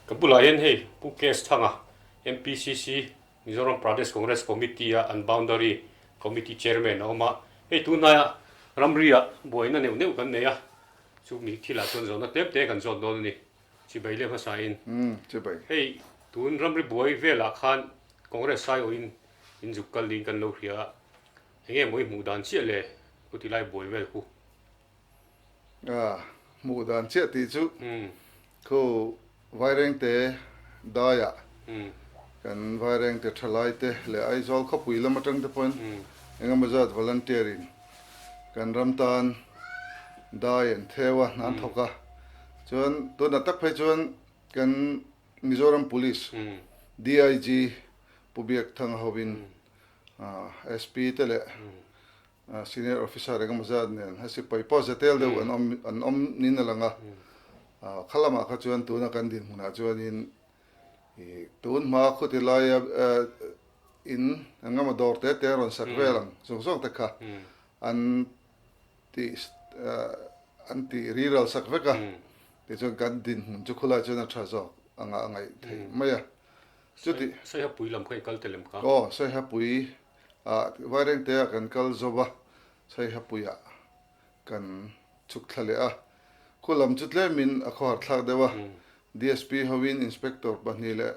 Ka bulah hian hei Pu KS Thanga MPCC, Mizoram Pradesh Congress Committee, a an Boundary Committee Chairman a awm a, hei tunhnaia ramria buaina neuh neuh kan nei a, chu mi thilah chuan zawhna tlem te kan zawt dawn a ni. Chibai leh hmasain hei tun ramri buai velah khan Congress saiawhin inzuk kal niin kan lo hria a, enge mawi hmuh dan chiah le khawtilai buai vel khu. Ah, hmuh dan chiah tih chu khu Vairengte daia kan Vairengte thalaite leh Aizawl khawpui lam atangte pawhin engemaw zat volunteer in kan ram tan dai an theu a, an thawk a. Chuan tunah tak phei chuan kan Mizoram Police, DIG, Pu Biak Thang ho in, ah, SP te leh Senior Officer engemaw zat nen a sipai pawh zetel deuh an awm an awm niin a lang a, kha lamah kha chuan tuna kan dinhmunah chuanin i tunhma khutilaia in engemaw dawr te te an rawn sak vel ang zawk zawk te kha an ti an ti riral sak vek a, tichuan kan dinhmun chu khulaiah chuan a tha zawk anga a ngaih theih mai a, chutih. Sawihapuii lam kha i kal telem ka. Aw Sawihapuii. Ah, Vairengtea kan kal zo va, Saihapuia kan chhuk thla leh a. Khua lam chu tlemin a khawhar thlak deuh a. DSP hoin Inspector pahnih leh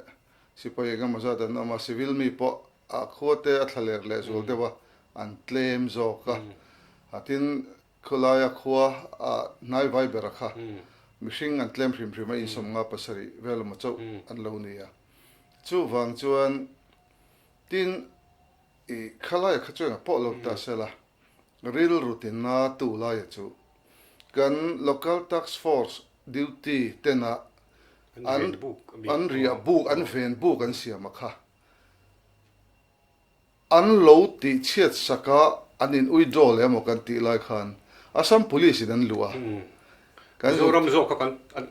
Sipai engemawzat an awm a, Civil mi pawh a khuate a thlaler leh zual deuh a an tlem zawk a. Ah, tin, khawlaia khua ah hnai vai bera kha mihring an tlem hrim hrim a, insawmnga pasarih vel emaw chauh an lo ni a. Chuvang chuan. Tin, i khalaia kha chuan a pawh lo ta se la, rilrutina tu laia chu kan Local Task Force duty tena an an riah buk, an ven buk an siama kha an lo tih chhiat saka an in withdraw leh emaw kan tih lai khan Assam Police-in an luh a, Kan zut. Mizoram zawk kha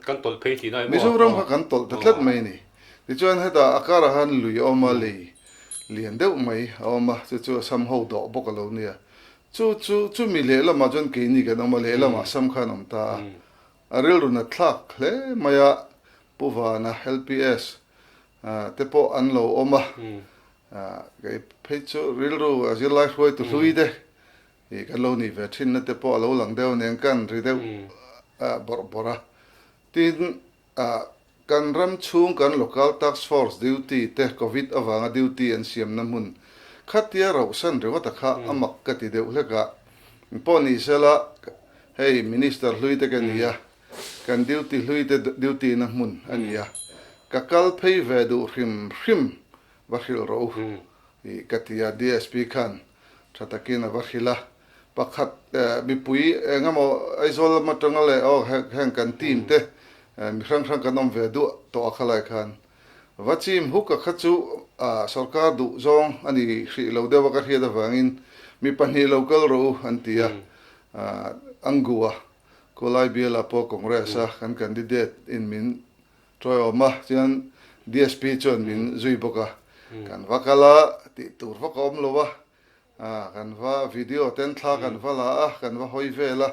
kan tawlh phei tihna emaw? Mizoram kha kan tawlh ta tlat mai a ni. Tichuan hetah a karah han lui a awm a, lei lian deuh mai a awm a, chu chu a sam ho dawh bawk a lo nia. Chu chu chu mi lehlamah chuan keini kan awm a, lehlamah sam khan awm ta a. A rilrun a thlak hle mai a, Pu Vana, LPS, te pawh an lo awm a. Kei phei chu rilru a zirlai hruaitu hlui te. I kan lo nih ve thinna te pawh a lo lang deuh nen kan ri deuh bawrh bawrh a. Tin, kan ram chhung kan Local Task Force duty te Covid avanga duty an siamna hmun khatia rohsan ringawta kha a mak ka ti deuh hlek a. Pawh ni sela hei Minister hlui te ka nia, kan duty hlui te duty na hmun a nia, ka kal phei ve duh hrim hrim Va hrilh ro u ih ka ti a, DSP khan tha takin a va hrilh a, pakhat mipui engemaw Aizawl lam atanga leh aw heng kan team te mi hrang hrang kan awm ve duah tawh a kha lai khan va chim huk a kha chu ah sorkar duh zawng a ni hrih lo deuh a ka hriat avangin mi pahnih lo kal ro u an ti a ah Angua Kawlai biala pawh Congress a kan candidate in min Tawih a awm a, chuan DSP chuan min zui bawk a, kan va kal a, tih tur vak a awm lo a, kan va video ten thla kan va la a, kan va hawi vel a,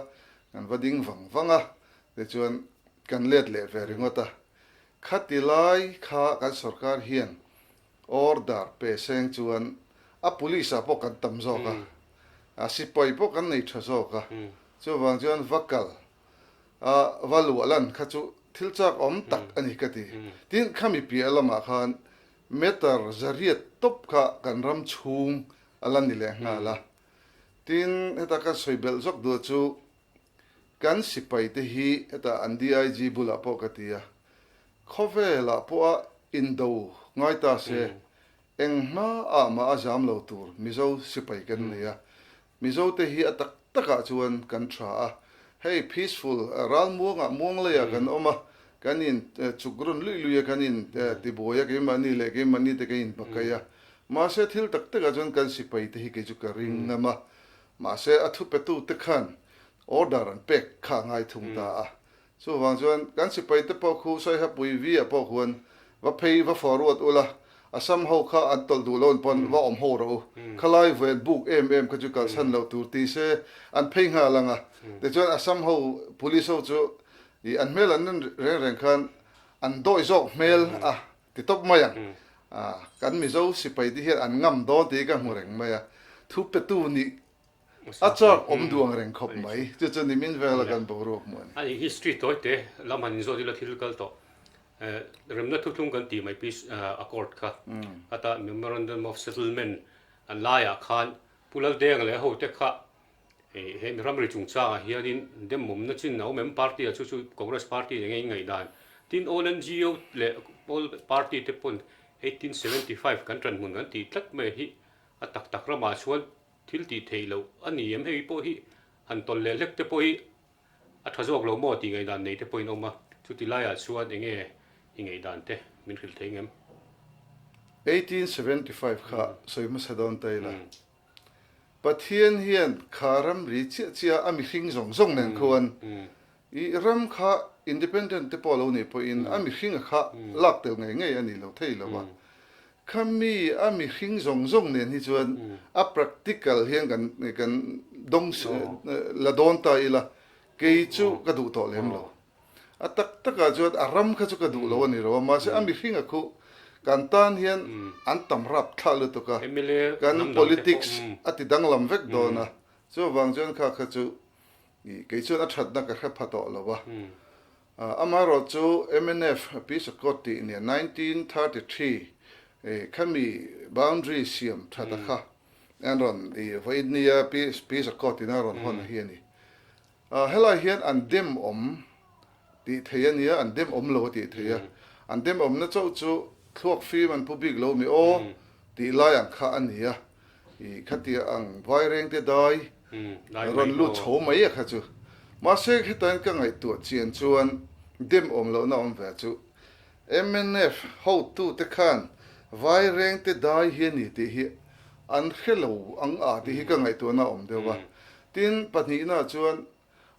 kan va ding vang vang a, tichuan kan let leh ve ringawt a. Khati lai kha kan sorkar hian order pe seng chuan a police ah pawh kan tam zawk a, a sipai pawh kan nei tha zawk a, chuvang chuan va kal a va luah lan kha chu thil chak awm tak a ni ka ti. Tin, khami piah lam ah khan meter zariat tawp kha kan ram chhung a lan ni leh nghal a. Tin, heta kan sawi belh zawk duh chu kan sipai te hi heta an DIG bulah pawh ka ti a, khawvel ah pawh a in do ngai ta se, engmah ah mah a zam lo tur Mizo sipai kan nei a. Mizote hi a tak takah chuan kan tha a, hei peaceful ral muangah muang lei ah kan awm a, kan in chuk rawn lui luia kan in ti buai a, keimahni leh keimahni te kan in pakai a, mahse thil tak takah chuan kan sipai te hi kei chu ka ring ngam a, mahse a thupetu te khan order an pek kha a ngai thung ta a, Chuvang chuan kan sipaite pawh khu Saiha Pui Via pawh khuan va phei va fawh ruat ula, Assam ho kha an tawlh duh loin pawn va awm ho rawh u, khalai vuen buk em em kha chu kalsan lo tur ti se an phei nghal ang a, tichuan Assam ho Police ho chu i an hmel an rin reng reng khan an dawi zawk hmel a ti tawp mai ang, kan Mizo sipaite hian an ngam dawn tih ka hmu reng mai a, thu petu nih A châk awm duang reng khawp mai. Chu chu nimin vel a kan boruak hmuh a ni. Ani hi street tawi teh lam han inzawt ila thil kal tawh remna thuthlung kan tih mai peace accord kha hata memorandum of settlement a laiah khan Pu Lalteng leh ho te kha he mi ramri chungchang ah hian in dem awm na chin a awm em party a chu chu congress party nen nge in ngaih dan tin all NGO leh all party te pawn eighteen seventy five kan ṭan hmun kan tih tlat mai hi a tak tak ramah chuan Thil tih theih loh a ni em? Hei pawh hi han tawlh leh hlek te pawh hi a tha zawk lo maw tih ngaihdan nei te pawhin a awm a, chuti laiah chuan eng nge i ngaihdan te min hrilh theih ngem? Eighteen seventy five kha sawi hmasa dawn ta ila, Pathian hian kha ramri chiah chiah a mihring zawng zawng nen khuan I ram kha independent te pawh lo nei pawhin a mihringa kha lak tel ngei ngei a ni lo thei lo a. Khami a mihring zawng zawng nen hi chuan a practical hian kan kan dawng la dawn ta ila, kei chu ka duh tawh lem lo. A tak takah chuan a ram kha chu ka duh lo a ni lo a, mahse a mihringa khu kan tan hian an tam rap thla lutuk a, kan politics a ti danglam vek dawn a, chuvang chuan kha kha chu Nih, kei chuan a thatna ka hre pha tawh lo va. Amaherawh chu MNF, Peace Accord tih nen nineteen thirty three khami boundary siam that a kha an rawn i vawi ni a, Peace Accord in an rawn hawn a hi a ni. Helai hian an dem awm tih theih a nia, an dem awm lo a tih theih a. An dem awmna chauh chu thluak fim an pu bik lo mi aw tih lai ang kha a ni a. I khatia ang vaireng te dai rawn lut chho mai a kha chu. Mahse hetain ka ngaihtuah chian chuan dem awm lohna awm ve chu. Mnf hotute khan vaireng te dai hi a ni tih hi an hre lo ang a tih hi ka ngaihtuahna a awm deuh a. Tin pahnihna chuan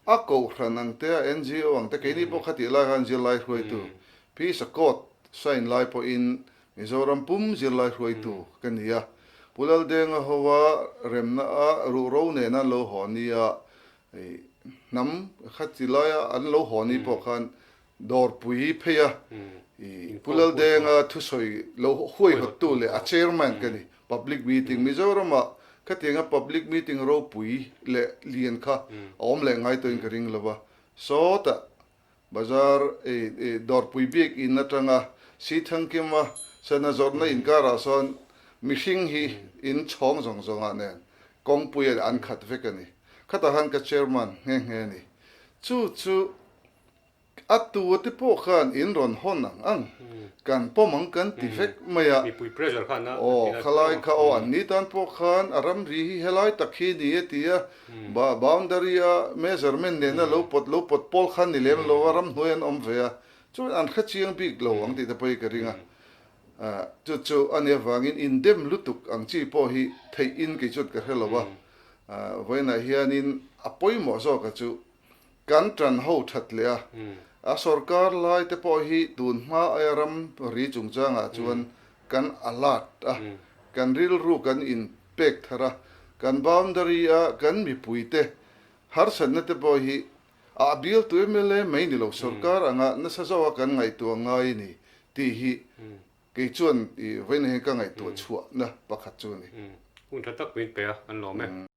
a kohhran ang te a NGO ang te keini pawh khatih lai khan zirlai hruaitu Peace Accord sign lai pawhin Mizoram pum zirlai hruaitu ka ni a, Pu Laldenga hova remna a ruhro nena an lo haw ni a, hnam khatih laia an lo haw ni pawh khan Dawrpui phei a i Pu Laldenga thusawi lo huaihawttu leh a chairman ka ni. Public meeting Mizorama khatianga public meeting ropui leh lian kha a awm leh ngai tawhin ka ring lo va. Sawtah bazar Dawrpui bik in atanga Sri Thankyama Sena zawrhna inkarah sawn mihring hi in chhawng zawng zawngah nen kawngpuia leh an khat vek a ni. Khatahan ka chairman nghe nghe a ni. Chu chu a tu te pawh khan in rawn hawn ang ang, kan pawm ang kan ti vek mai a, aw khalai kha aw an ni tan pawh khan a ram ri hi helai tak hi a ni a ti a, boundary a measurement nen a lo pawt lo pawt pawl khan ni lem lo a, ram hnuaiah an awm ve a, chuan an kha chiang bik lo ang tih te pawh hi ka ring a, chu chu a nia vangin in dem lutuk ang chi pawh hi theihin kei chuan ka hre lo a, vawiinah hianin a pawimawh zawkah chu Kan tan ho that leh a, a sorkar lai te pawh hi tun hma aia ram ri chung changah chuan kan alert a, kan rilru kan in pek thar a, kan boundary a kan mipui te harsatna te pawh hi a appeal to mla mai ni lo, sorkar anga nasa zauh a kan ngaihtuah ngai a ni tih hi kei chuan i vawiin heng ka ngaihtuah chhuahna pakhat chu a ni. Hun that tak min pe a, an lawm e.